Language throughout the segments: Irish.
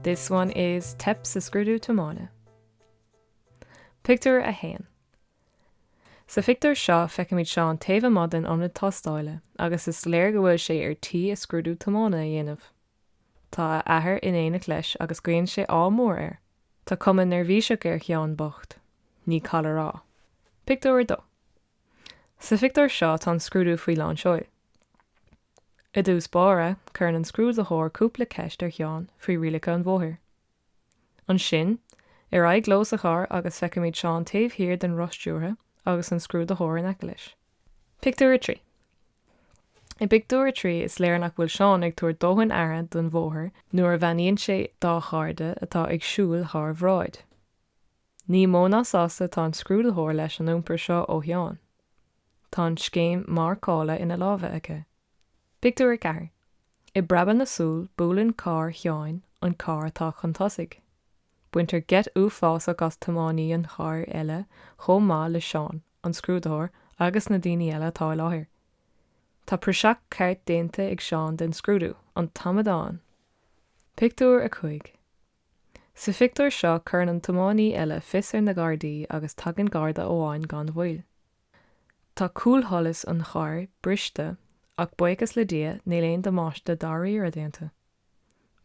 This one is Teip sa Scrúdú Tiomána. Pictiúr 1 Sa phictiúr seo feicimid Seán taobh amuigh den ionad tástála agus is léir go bhfuil sé ar tí a scrúdú tiomána a dhéanamh. Tá a athair in éineacht leis agus guíonn sé ádh mór air. Tá cuma neirbhíseach ar Sheán bocht, ní call a rá. Pictiúr 2. Sa phictiúr seo tá an scrúdú faoi lán seoil. I dtús báire, cuireann an scrúdaitheoir cúpla ceist ar Sheán faoi rialacha an bhóthair. Ansin, ar aghaidh leo sa charr agus feicimid Seán taobh thiar den roth stiúrtha agus an scrúdaitheoir in aice leis. Pictiúr 3 I bpictiúr a trí is léir nach bhfuil Seán ag tabhairt dóthain aire don mbóthar nuair a bheannaíonn sé dá chairde atá ag siúl thar bráid. Ní mó ná sásta atá an scrúdaitheoir leis an iompar seo ó Sheán. Tá an scéim marcála ina lámha aige. Pictiúr 4 I bpreabadh na súl buaileann carr Sheáin an carr atá chun tosaigh. Baintear geit uafásach as tiománaí an chairr eile chomh maith le Seán, an scrúdaitheoir agus na daoine eile atá i láthair. Tá praiseach ceart déanta ag Seán den scrúdú, an t-amadán! Pictiúr 5 Sa phictiúr seo cuireann an tiománaí eile fios ar na Gardaí agus tagann Garda amháin gan mhoill. Tá cúlsholas an chairr briste ach buíochas le Dia níl aon damáiste dáiríre déanta.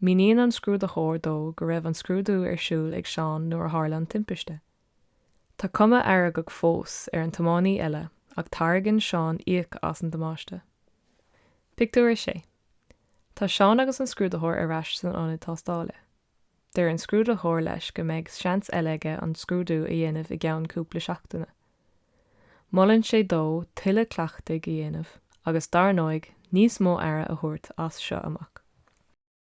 Míníonn an scrúdaitheoir dó go raibh an scrúdú ar siúl ag Seán nuair a tharla an timpiste. Tá cuma fheargach fós ar an tiománaí eile ach táirgeann Seán íoc as an damáiste. Pictiúr 6. Tá Seán agus an scrúdaitheoir ar ais san ionad tástála. Deir an scrúdaitheoir leis go mbeidh seans eile aige an scrúdú a dhéanamh i gceann cúpla seachtaine. Molann sé dó tuilleadh cleachtaidh a dhéanamh agus dar ndóigh níos mó aire a thabhairt as seo amach.